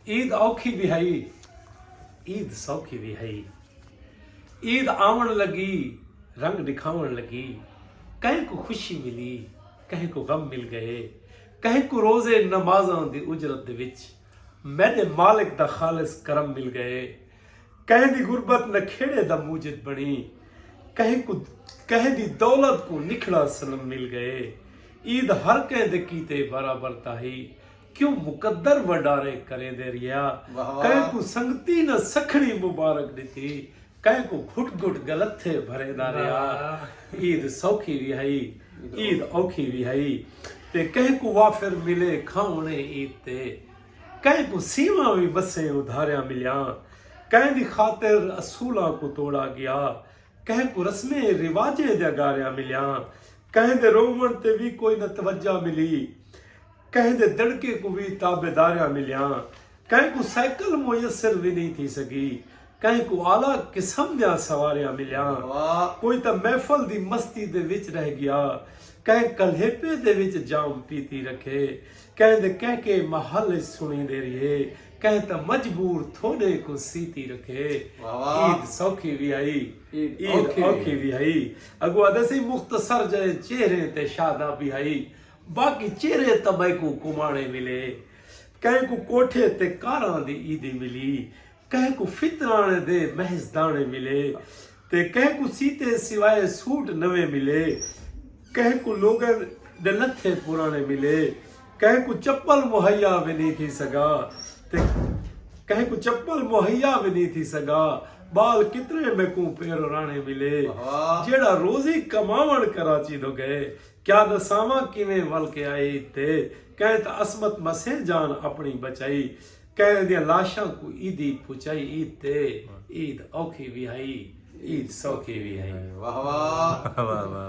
عید اوکھی وی ہئی عید سوکھی وی ہئی عید آون لگی رنگ دکھاون لگی کہیں کو خوشی ملی کہیں کو غم مل گئے کہیں کو روزے نمازاں دی اجرت دے وچ میڈے مالک دا خالص کرم مل گئے کہیں دی غربت نہ کھیڑے دا موجد بنی کہیں کو کہیں دی دولت کو نکھڑا سنم مل گئے عید ہر کہیں دے کیتے برابر تاہی کیوں مقدر وڈارے کریندے رہیا کہیں کوں سنگتی نہ سکھڑی مبارک ڈتی کہیں کوں گھٹ گھٹ گلتھے بھریندا رہیا عید سوکھی وی ہئی عید اوکھی وی ہئی تے کہیں کوں وافر ملے کھاونے عید تے کہیں کوں سیواں وی مسیں ادھاریاں ملیاں کہیں دی خاطر اصولاں کوں توڑا گیا کہیں کوں رسمیں رواجیں دیاں گاریاں ملیاں کہیں دے روون تے وی کوئی نہ توجہ ملی کہیں دے دڑکے کوں وی تابعداریاں ملیاں، کہیں کوں سائیکل میسر وی نئیں تھی سگی، کہیں کوں اعلی قسم دیاں سواریاں ملیاں، کوئی تاں محفل دی مستی دے وچ رہ گیا، کہیں کلیپے دے وچ جام پیتی رکھے، کہیں دے کہکے محل اچ سنڑیندے ریہے، کہیں تاں مجبور تھوڈے کوں سیتی رکھے۔ عید سوکھی وی ہئی، عید اوکھی وی ہئی، اگو آدھے سئیں مختصر جئیں چہریں تے شادابی ہئی۔ باقی چیرے تاں میکوں کمانے ملے کہیں کوں کوٹھے تے کاراں دی عیدی ملی کہیں کوں فطرانے دے محض دانے ملے تے کہیں کوں سیتے سوائے سوٹ نویں ملے کہیں کوں لوگاں دے لتھے پرانے ملے کہیں کوں چپل مہیا وی نی تھی سگا تے کہیں کوں چپل مہیا وی نی تھی سگا بال کتنے میکوں پیرو رانے ملے جیڑا روزی کماون کراچی دو گئے کیا دساواں کیویں ول کے آئی تے کئیں تاں عصمت مسے جان اپنڑی بچائی کئیں دیاں لاشاں کوں عیدی پھچائی عید تے عید اوکھی وی ہئی عید سوکھی وی ہئی واہ واہ واہ واہ